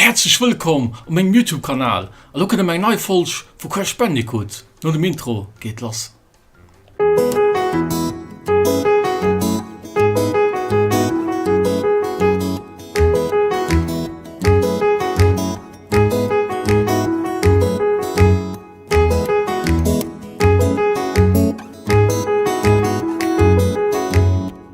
Häerzlech wëllkomm op mengem Youtube Kanal. Elo kënnt erëm eng nei Folg vu Crash Bandicoot. No dem Intro geet et lass.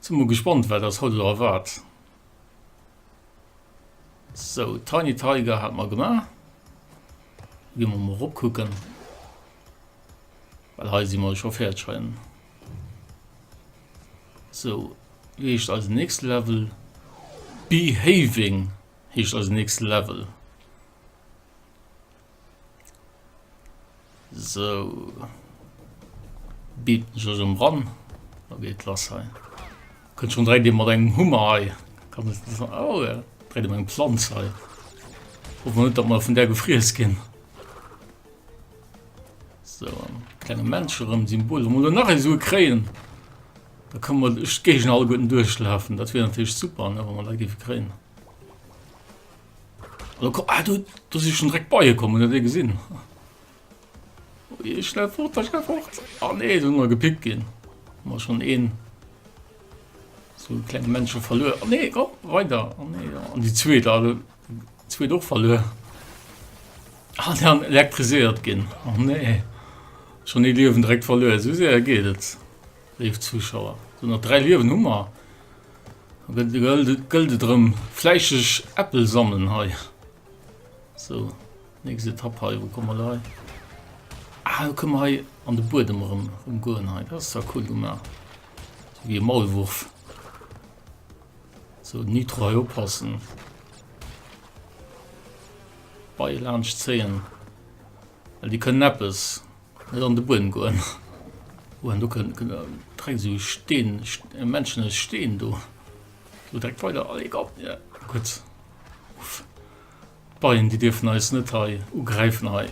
Sin mol gespannt waat ass haut elo erwaard. Sou Tiny Tiger haten mer gemaach. Gin mer mol rop kucken well hei sin mer jo scho färdeg heien. Sou wéi heescht eisen nächsten Level? Behaving heescht eisen nächsten Level. Sou, beamt mech ech em ran, da geet lass hei. Kënnt schon direkt ee mat engem Hummer hei, kann net net an, oh ja, direkt mat engem Planz hei. Hoffen mer net, datt mer vun där gefriess ginn. Sou, klenge Mensch erëm, Symbol, wa mer elo nach ee Sue kréien, da kënne mer duerch d'Géigend alleguerten duerchlafen, dat wier natierlech super, ne, wa mer dat géife kréien. Hallo, komm, ah, du, du si schon dreck beie kommen der dee gesinn. Ui, schnell fort, schnell fort. Ah nee, du mal gepickt gin. Mal schon een so kleng Mënsche verlö. Oh, nee oh, weiter oh, nee, ja. an die zwee da zwee doch verlö. Ah, der an elektriséiert ginn. Oh, nee schon e liewen dreck verlö. So se geet et. Léif Zuschauer, sou nach 3 Liewen hu mer, da gëllt et erëm fläisseg Äppel sammeln hei. Sou, nächst Etapp hei, wou komme mer elo hei? Ah, elo kënne mer hei an de Buedem erëm goen hei, dat ass zwar cool gemaach, sou wéi e Maulwurf. Sou, Nitro hei oppassen, d'Beie laanscht zéien, well déi kënnen eppes. Net an de Buedem goen. Oha do kënnt dreckt esou Steen Menschen aus Steen do do dreckt weider allez komm ja gutt uff Beien déi dierfen eis net hei ugräifen hei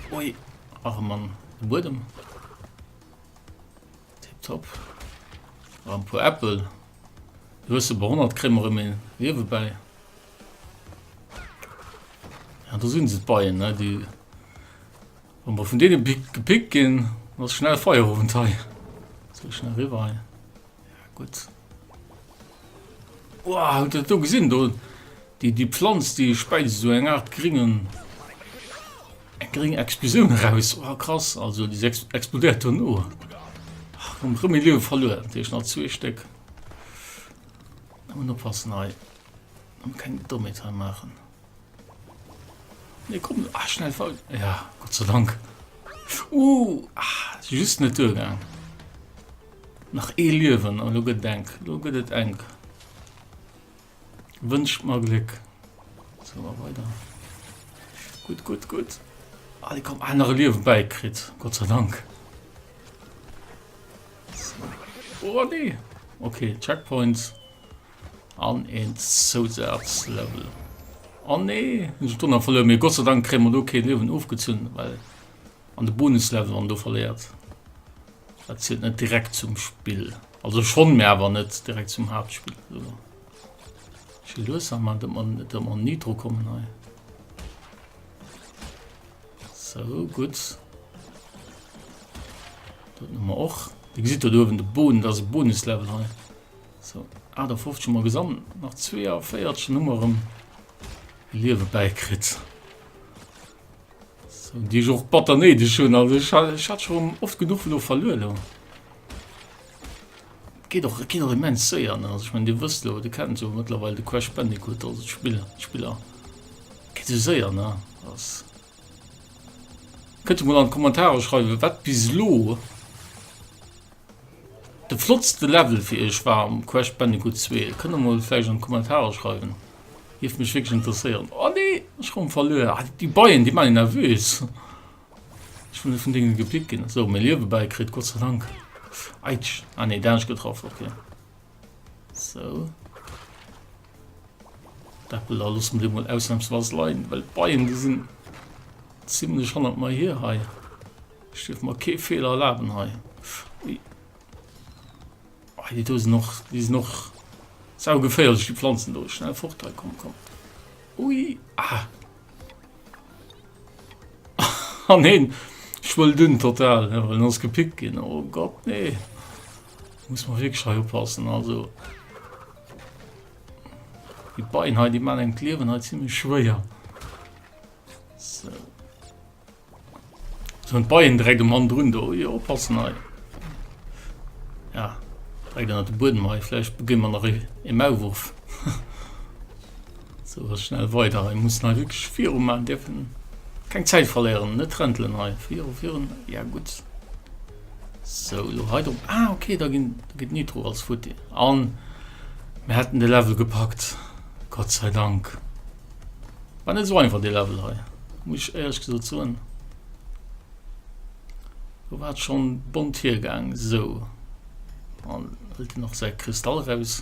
ui arem Mann de Buedem tip top a puer Äppel du hues se behonnert kréie mer erëm een Riewe bäi ja do sinn se d'Beien ne déi Wann mer vun deenen Pick gepickt ginn, ass schnell Feierowend hei. Muss elo schnell riwwer hei. Ja, gutt. Wow, haut dat do gesinn do? Déi, déi Pflanz, déi speit esou eng Art gringen, eng gring Explosioun eraus. Wow, krass, also déi ex explodéiert dono. Ach, komm, rëm e Liewe verluer. Dat heescht nach zwee Stéck. Ëmmen oppassen hei. Ëmmen keng Dommheet hei maachen. Nee, komm, ah, schnell faul. Ja, Gott sei Dank. Uh, ah, just net durchgegangen. Nach eh Löwen, aber nur gedenk, nur geht es eng. Wünscht mal Glück. So, mal weiter. Gut, gut, gut. Ah, die kommen andere Löwen beikriegt. Gott sei Dank. So. Oh, nee. Okay, Checkpoints. An een Zousazlevel. Oh nee, hun ech Donner verluer, mee Gott sei Dank kréie mer do kee Liewen ofgezunn, well an de Bonuslevel wann do verléiert, dat zielt net direkt zum Spill. Also schonn, mee awer net direkt zum Haaptspill. So. Schi lues an man, dat man, dat man nie dro kommen hei. So, gut. Dat man och. Wie gesit do oben de Boden, dat ass e Bonuslevel hei. Sou, 58 hu mer gesammelt, nach 42, dann hu mer erëm Liewe bäikritt. Sou, déi ech och batter néideg hunn, also ech ha, ech hat scho oft genuch elo verluer elo. Et geet och, et geet och immens séier, ne. Also ech menn, Dir wësst elo, Dir kennt jo mëttlerweil de Crash Bandicoot, also d'Spill, d'Spiller. Et geet esou séier, ne. Ass, kënnt emol an d'Kommentare schreiwen, wat bis elo De flottste Level fir iech war am Crash Bandicoot 2? Et kënnt der mol vläicht an d'Kommentarer schreiwen, géif mech wierklech interesséieren. Oh nee, ech goung verluer. Ah, déi Beien, déi man een nervös. Ech wëll net vun denen gepickt ginn. So, mir Liewe bäikritt, Gott sei Dank. Aitsch, ah nee, dänesch getraff, ok. So. D'Äppel da loosse mer déi mol ausnahmsweis leien, well d'Beien, déi sinn ziemlech hannert mer hier hei. Ech dierf mer kee Feeler erlaben hei. Ui. Ah, déi do sinn och, déi sinn och saugeféierlech, déi Pflanzen do. Schnell fort hei, komm, komm. Ui, ah. Ah, neen. Ech wëll dünn total, ja, well ass gepickt ginn. Oh Gott, nee. Muss man wirklich hei oppassen, also. Die Beine, die man im Kleben hat, ziemlich schwer. So. Soen d'Beien direkt um Mann drun do, jo oppassen hei, ja direkt ënnert de Buedem hei, vläicht beginn mer nach ee Maulwurf. Sou ass schnell weider hei, mussen hei wierklech viru man, dierfen keng Zäit verléieren, net räntelen hei, viru virun, ja gutt. Sou elo hei drop, ah okay da ginn, do geet Nitro als futti an mer hätten de Level gepackt, Gott sei Dank. War net sou einfach dee Level hei, muss ech éierlech gesot soen. Do war et schon bont hiergaang. Sou, an hëlt en och säi Kristall raus.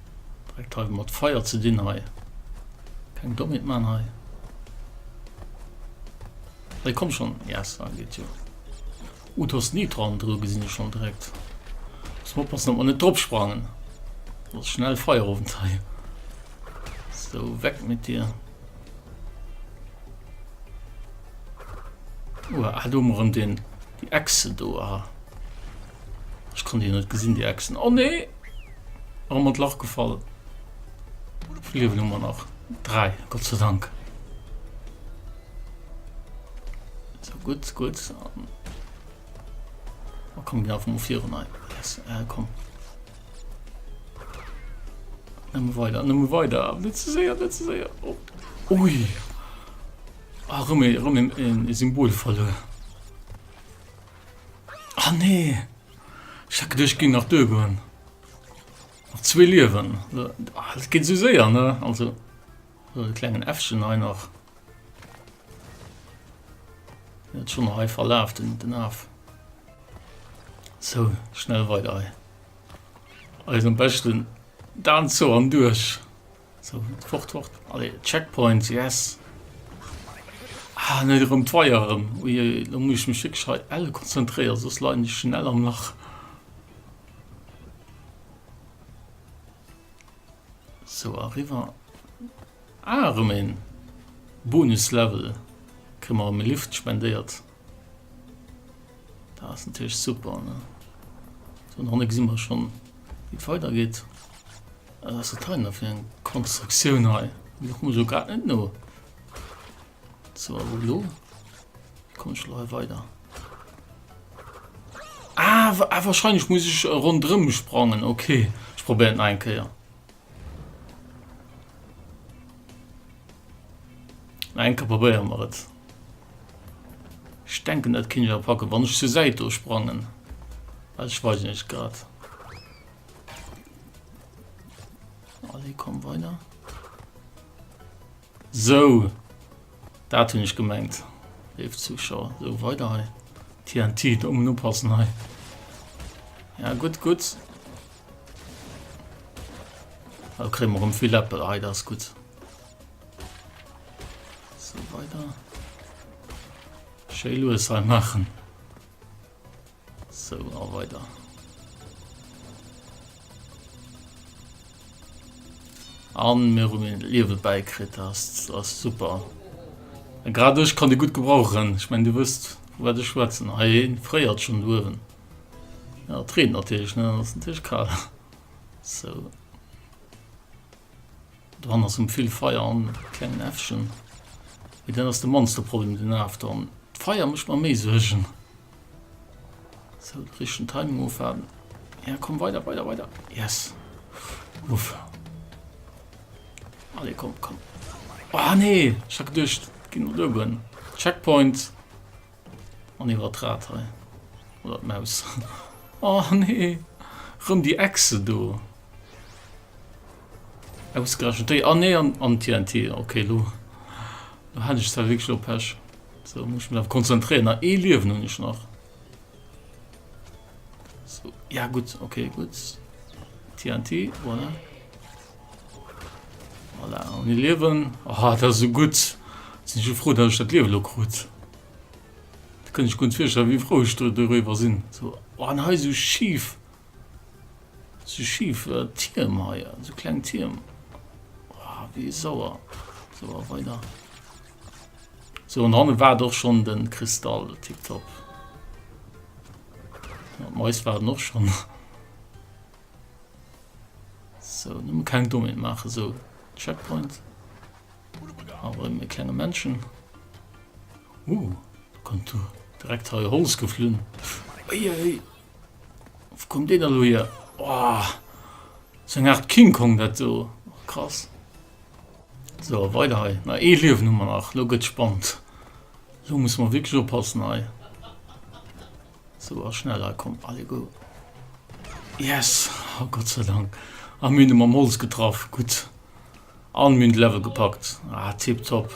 Direkt hei mat Feier ze dinn hei. Keng Dommheet maan hei. Hei komm schon. Yes, da geet jo. Uh, du hast Nitron dru gesinn ech schon direkt. Muss man oppassen, dass man net drop sprangen. Das schnell Feierabend hei. So, weg mit dir. Uh, ah, du mer den, die Echse do, ah. Ich kann die net gesinn, die Echsen. Oh nee! An mat Lach gefall liewen hummer nach 3 Gott ze dank so gut gut kom gin vum vir nei kom weiter nëmme weiter net ze séier net ze séier op ui a rëmme rëmme en e symbol falle ah nee Ech hat geduecht ech ging nach duer goen nach zwee Liewen et geet sou séier ne also e klengen Äffchen hei nach net schon hei verlaf den den Aaf sou schnell weider hei eisen beschten Dan zo an duerch. So, fort, fort. Allez, Checkpoints, yes. Ah, net erëm d'Weier erëm. Ui, da muss ich mich wirklich hei elle konzentréieren, sonst leiden ich schnell am Lach. So, arriver. Ah, erëm een Bonus-Level. Kriegen wir erëm e Lift spendéiert. Da ass natierlech super, ne? Sou, an hanne gesi mer schonn, wéi et weidergeet. Wat ass dat hei nach fir eng Konstruktioun hei? Déi kucke mer jo grad net no. So, a wou elo? Wéi komme ech elo hei weider? Ah, wa- ah, wahrscheinlech muss ech ronderëm sprangen. Okay, ech probéieren et nach eng Kéier. Na enke probéieren mer et. Ech denken dat kinn ech awer packen wann ech zur Säit do sprangen. Well ech weisen net grad. Allez, komm weiter. So. Dat hunn ech gemengt. Leef Zuschauer. So weiter hei. TNT um nopassen hei. Ja gutt gutt. Da kriegen wir um vill Äppel hei, das ist gut. So weiter. Schön Louis hei machen. So, auch weiter. An mir um den Liebe beikriegt hast, das ist super. Gerade ich kann die gut gebrauchen. Ich meine, du wirst, wo werde ich schwätzen? Hey, freiert schon Löwen. Ja, et reent natierlech, ne? Dann ass natierlech kal. So. Dran ass um vill Feier an klengen Äffchen. Wie dann ass de manste Problem den Af dann. D'Feier mécht mer méi Suergen. So, den richtigen Timing ofwarten. Ja, komm weiter, weiter, weiter. Yes. Uff. Allez, komm, komm. Oh nee, ich hab gedacht, ging nur oben. Checkpoint. An iwwert d'Rad hei. Oder d'Maus. Oh nee! Rëm déi Echse do! Ausgerechent déi. Ah nee, an, an TNT. Okay, lo. Lo hat ech zwar wierklech lo Pech. So, muss ich mich darauf konzentrieren. Na, eh Liewen hun ich nach. So, ja gut, okay, gut. TNT, voilà. Voilà, ohne Liewen. Oh, das ist so gut. Sind ich froh, dass ich das Liewen krut. Da kann ich ganz feststellen, wie froh ich darüber sind. So, oh, und hier so schief. So schief äh, Türm hier, so klein Türm. Oh, wie sauer. So, weiter. So, und dann war doch schon den Kristall, tipptopp. Ja, Mais war noch schon. So, nun mal kein Domain machen, so Checkpoint. Aber mit kleinen Menschen. Uh, kommt du direkt hier Holz geflohen. Ui, ui. Wo kommt der denn hier? Oh, so eine Art King Kong, das so. Krass. So, weiter hier. Na, eh Leben haben wir noch. Lo geht's spannend. Lo müssen wir wirklich aufpassen hier. Sou a schneller komm alle go. Yes! Oh Gott sei Dank! A mir hunn e mam Holz getraff, gutt. An mir hunn de Level gepackt. Ah tip top!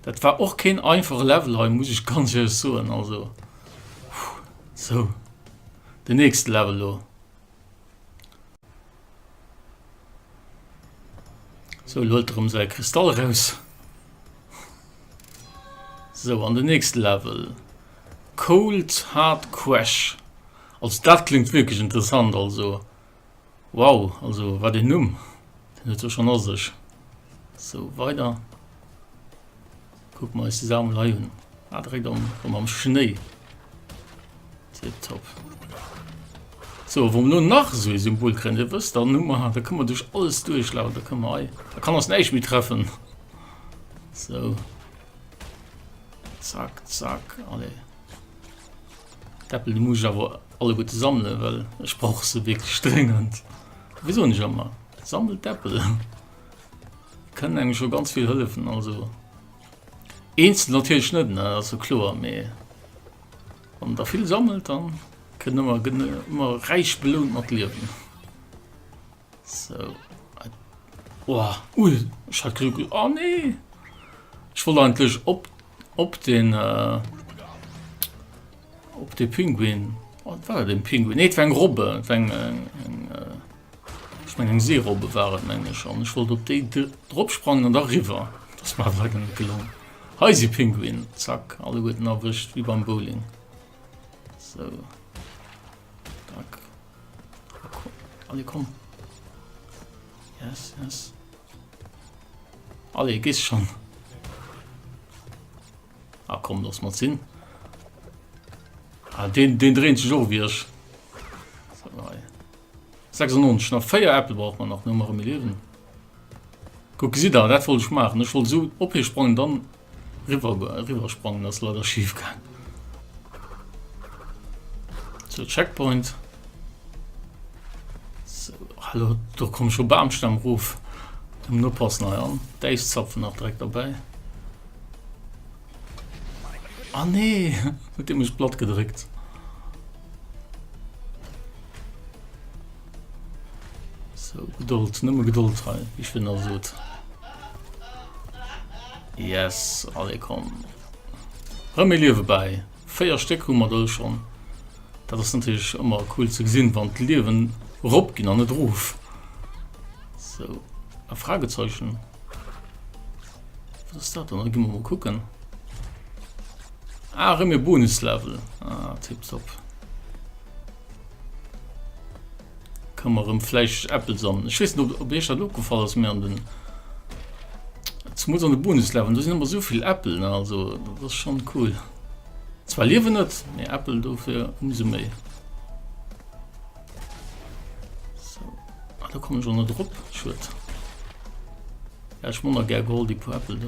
Dat war och keen einfache Level hei muss ech ganz ehrlech soen, also. Sou, de nächste Level lo. So lo huet erëm säi Kristall eraus. So an den nächste Level. Cold Hard Crash. Also dat klingt wirklich interessant also. Wow, also wat den Numm. Den huet jo schon a sech. So weiter. Kuck mol eis die Sammel hei un. Ah direkt am komm am Schnéi. Tip top. So wo no nach so e Symbol krennt e wësst dann Nummer hat, da kann man duch alles durchlaufen, da kann man hei da kann ass näicht mi treffen. So Zack zack alle. Deppel du muss awer alle gute sammle well ech brauch se wg strengend. Wieso nech ëmmer sammelt Deppel. Kënnen engem scho ganz vill hëllefen, also eenzel natierlech net, dat ass jo kloer, mee wann een der vill sammelt, da kënnt ëmmer, gëtt een ëmmer räich belount mat Liewen. Sou. Oha, ui, ech hat geduckt, oh nee, ech wollt eigentlech op. op den äh, op de Pinguin. Wat oh, war den Pinguin? Nee, eng Robbe eng äh, eng Seerobbe waren menge schon. Ech wollt op de dropsprangen an der River. Das war war den gelungen. Heise Pinguin Zack alle guten erwischt wie beim Bowling. So. Dack. Allez, komm. Yes, yes. Allez, gehst schon. Ah, komm, lass mal ziehen. Ah, den, den drehen sich auch wieder. 96, nach 4 Äppel braucht man nach, nur mal im Leben. Guck, sie da, das wollte ich machen. Ich wollte so opgesprungen, dann Riwwer sprangen ass leider schief gaang. Sou Checkpoint. Hallo do kom scho Bamstamm ruf dem no pass nei an Deich zapfen nach dreck dabei An ah, nee huet de mech blatt gedréckt. So, Gedold, nëmme Gedold hei, wéi ech virun all sot. Yes, alle komm. Rëm méi Liewe bei. Véier Stéck hu mer do schon. Dat ass natürlich ëmmer cool ze gesinn, wann d'Liewen rop ginn an net ruf. So, a Fragezeichen. Was ist dat dann? Gimmer mal kucken. Ah, rëm mir Bonuslevel. Ah, tipptopp. Kann man rem fleischig Äppel sammeln. Ich weiß nicht, ob ich das aufgefallen ist, mir an den zumindest an den Bonusleveln, da sind immer so viel Äppel, ne? also das ist schon cool. Zwar leben nicht, mehr Äppel dafür umso mehr. So, ah, da kommen schon noch drauf, schön. Ja, ich muss noch gerne geholt, die paar Äppel da.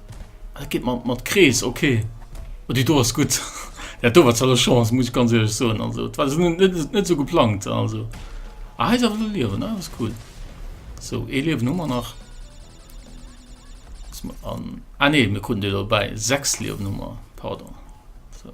Ah, dat geet mat, mat Krees, okay. Oh, déi do ass gutt. Dat do war zwar elo Chance, muss ech ganz ehrlech soen. Also, dat war esou net, net, net esou geplangt, also. Ah, hei ass awer elo Liewen, ah, dat ass cool. So, ee Liewen hu mer nach. Lass mer an, ah nee, mir kruten déi elo dobäi. Sechs Liewen hu mer, pardon. So.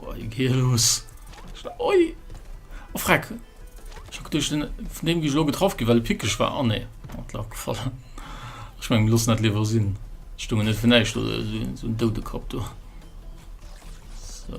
Oi, geh los. Oi! Oh, freck! Ich hab durch den, von dem ich lo getroffen gewählt, pickig war. Oh ne, hat lag gefallen. Ich mein, los nicht lieber sind. Stungen nicht für nicht, so, so ein tote Kopf da. So.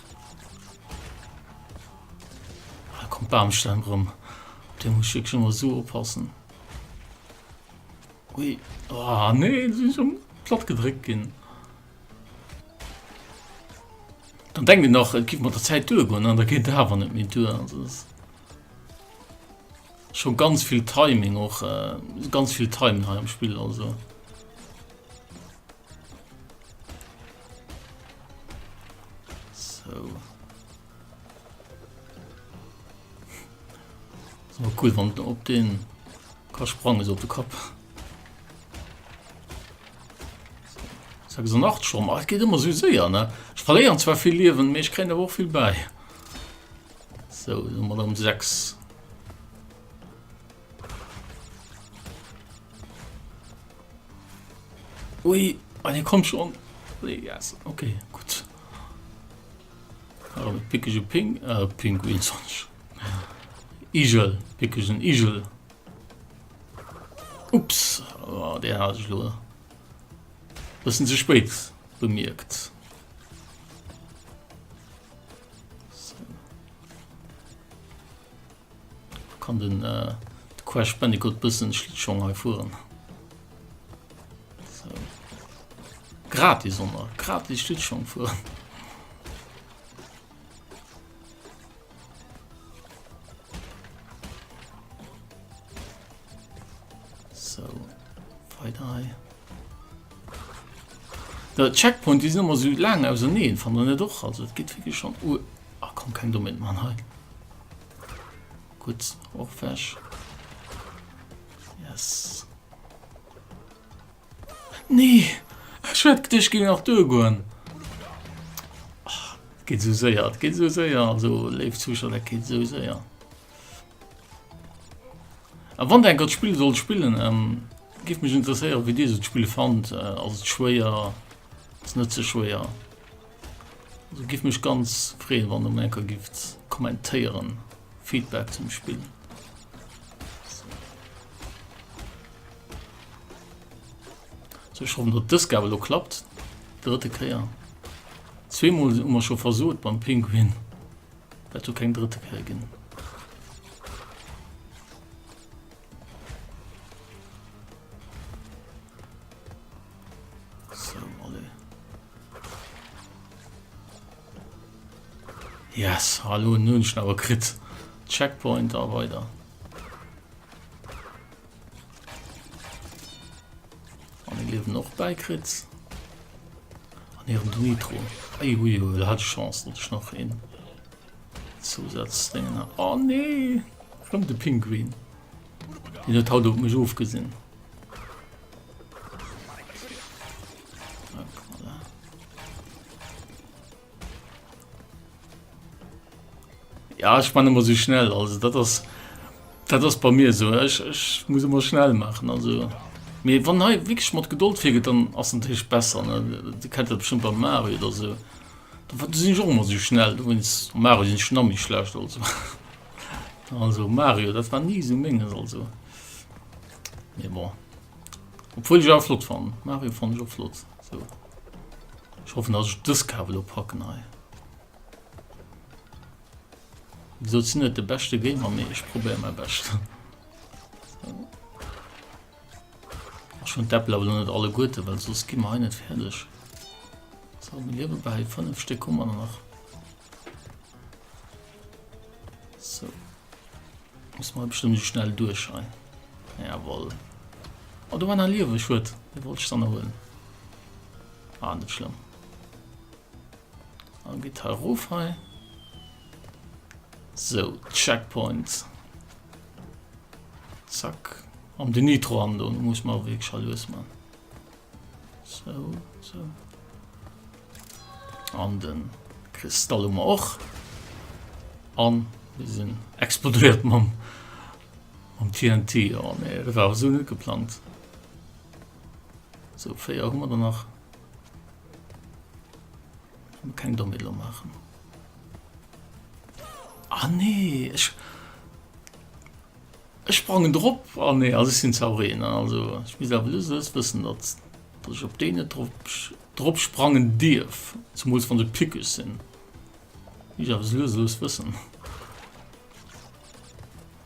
Ah, kommt Baumstamm rum. Den muss ich schon mal so oppassen. Ui. Ah, nee, das ist schon platt gedrückt gehen. Dann denken wir noch, es gibt mal der Zeit durchgehen, dann geht da aber nicht mehr durch. Also das schon ganz viel Timing auch, äh, ganz viel Timing im Spiel, also. So. So cool, wann du op den ka sprangen op de Kopf. Sag so nacht schon mal geht immer so sehr ne ich verlieren zwar viel leben ich kenne auch viel bei so immer dann sechs Ui, an hie kommt schon. Yes, okay, gut. Oh, pickige Ping, äh, Pinguin sonst. Igel, pickigen Igel. Ups, oh, der hat ich nur. Bisschen zu spät bemerkt. Kann den Crash Bandicoot bëssen Schlittschong hei fueren? So. Gratis onnner, gratis Schlittschong fueren. So, weiter hei. Der Checkpoint die immer so lang aus neen fan net och also geht wirklich schon uh, ah, kom kein Domain man he. Gutt, och weg. Yes. Nee! Ech hätt geduecht, ech géing nach duergoen. Et geet esou séier, et geet esou séier, also léif Zuschauer, dat geet esou séier. A wann der enker d'Spill sollt spillen, ähm, géif mech interesséieren, wéi dir esou d'Spill fannt. Äh, ass et schwéier? Ass net ze schwéier? Giff mech ganz freeën wann der mol enker gifft kommentéieren, Feedback zum Spill. So ech hoffen dat dës Gabel lo klappt. Drëtte Kéier. Zweemol si mer scho versot beim Pinguin. Dat du keng drëtte Kéier ginn. So, alle. Yes, hallo, nun ich aber krit. Checkpoint da weiter. Und ich lebe noch bei Kritz. An ihrem Nitro. Ey, ui, ui, hat Chance, dass ich noch hin. Zusatzdinge. Oh nee, kommt der Pinguin. Den hat halt auf mich aufgesehen. Ja, ich meine immer so schnell, also das ist, das ist bei mir so, ich, ich muss immer schnell machen, also... Mir wann hei wirklich mat Geduld figet, dann ass den Tisch besser Di kennt dat schon beim Mario oder se. wat sinn jo immer so schnell du wins Mario sinn Schnammi schlecht also. Also Mario, dat war nie so menges also. Mee bon. Obwuel ech awer flott fannen. Mario fannen ech och flott. So. Ech hoffen, dass ech dës Cave elo packen hei. Wéi gesot, sinn net de beschte Gamer, mee ech probéier mäi Bescht. Ech hunn d'Äppel awer net alle Guete, well sos gi mer hei net fäerdeg. So, mir liewe bei 5 Stéck Hummer nach. So. Muss man bestimmt so schnell durch hein. Jawohl. Oh, du war nach liewe Schwert. Den wollte ich dann holen. Ah, nicht schlimm. Dann geht hier rauf hein. So, Checkpoint. Zack. Am den Nitro an, muss man wirklich schon lösen, Mann. So, so. An den Kristall um och. An wir sinn explodeiert mam am TNT oh, nee, dat war so net geplant. So fé immer danach kein Domelo machen. Ah nee, ich Ech sprangen drop an nee also ech sin zaureen an also ech misst awer just just wëssen dat dat ech op déi net drop drop sprangen dierf zumools wann se pickeg sin misst ech awer just lues lues wëssen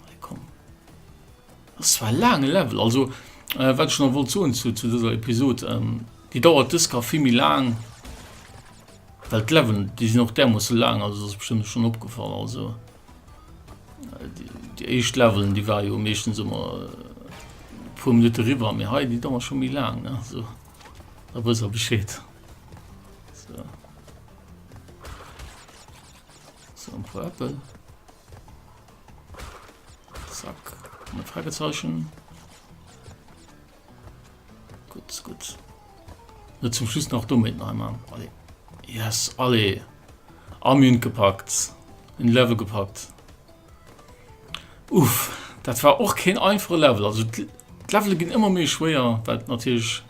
hei komm ass zwar e laange level also äh, wat ech noch wollt soen zu zu dëser episod ähm, déi dauert dës ka vill méi laang well d'leveln déi sin och därmoosse laang also dat ass bestëmmt schon opgefall also Déi éischt Levelen, déi war jo meeschtens ëmmer e puer Minutte riwwer, mee hei déi dauer scho méi laang, ne? So, da wëss er Bescheed. So. So, ein paar Äpfel. Zack, ein Fragezeichen. Gutt, gutt. Net zum Schluss nach doméit nach eng Main. Allez. Yes, allez. Am Mund gepackt. In Level gepackt. Uff, dat war och keen einfache Level. Also d'Levele ginn ëmmer méi schwéier, wat natierlech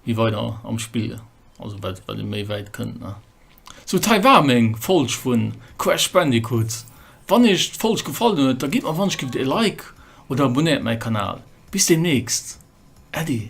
wie weider am Spiel, also wat wat e méi wäit kënnt. Sou d'hei war meng Folg vun Crash Bandicoot. Wann iech d'Folg gefallen huet, da gitt mer wannech gifft ee Like oder abonéiert mäi Kanal. Bis deemnächst, Äddi.